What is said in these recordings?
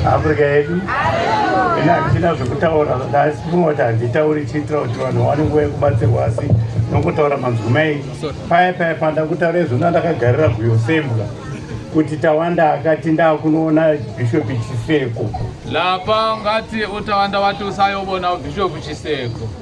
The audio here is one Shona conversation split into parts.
Africa yedu ina hatina zvekutaura asi kunoti handitauri chiitira kuti vanhu vaone nguva yekubatsirwa asi nokutaura manzwi mai paya paya panda kutaura izvo ndandakagarira guyo sembwa kuti tawanda akati ndakunoona bhishopi chiseko lapa ngati utawanda wati usayovona bhishopi chiseko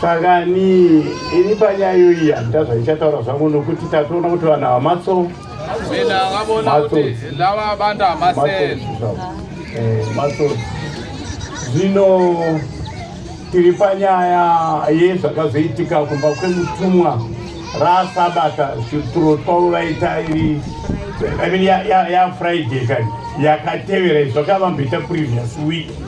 saka ni ini panyaya iyoyi handida zvaichataura zvangu nokuti tatoona kuti vanhu ava matso matso eh, zvino tiri panyaya yezvakazoitika kumba kwemutumwa rasabata shuturo twavo vaita iri yafriday kani yakatevera izvakavamboita previous week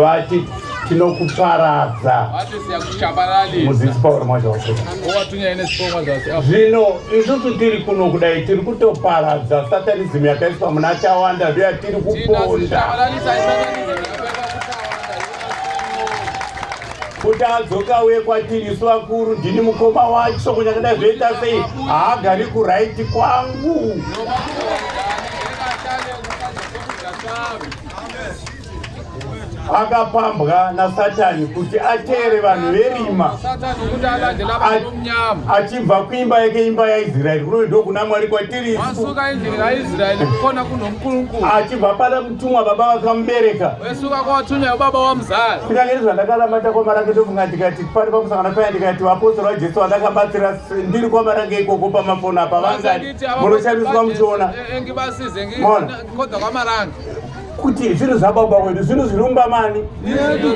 vati tinokuparadza zvino isusu tiri kuno kudai tiri kutoparadza satanizimu yakaiswa muna tawanda ndoyatiri kuponda kuti adzoka uye kwatiri isu vakuru ndini mukoma wacho kunyakada zvoita sei haagari kuraiti kwangu no, akapambwa nasatani kuti ateere vanhu verima achibva kuimba yake imba yaisraeri kuno ndokuna mwari kwatiri achibva pana mutumwa baba vakamubereka kunyange nezvandakalamata kwama rake ndofunga ndikati pari pamusangana paya ndikati vapostori vajesu vandakabatsira ndiri kwama range ikoko pamafoni apa vangani munoshamiswa muchiona kuti zvinhu zvababa wedu zvinhu zvirumba mani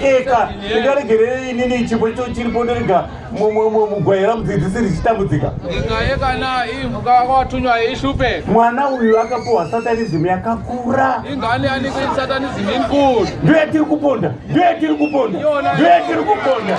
eka ndingaregerei inini chipo icho chiripo ndirega mugwayira mudzidzisi richitambudzika mwana uyu akapuhwa satanizimu yakakura ndiyo yatiri kuponda ndiyo yatiri kuponda ndiyo yatiri kuponda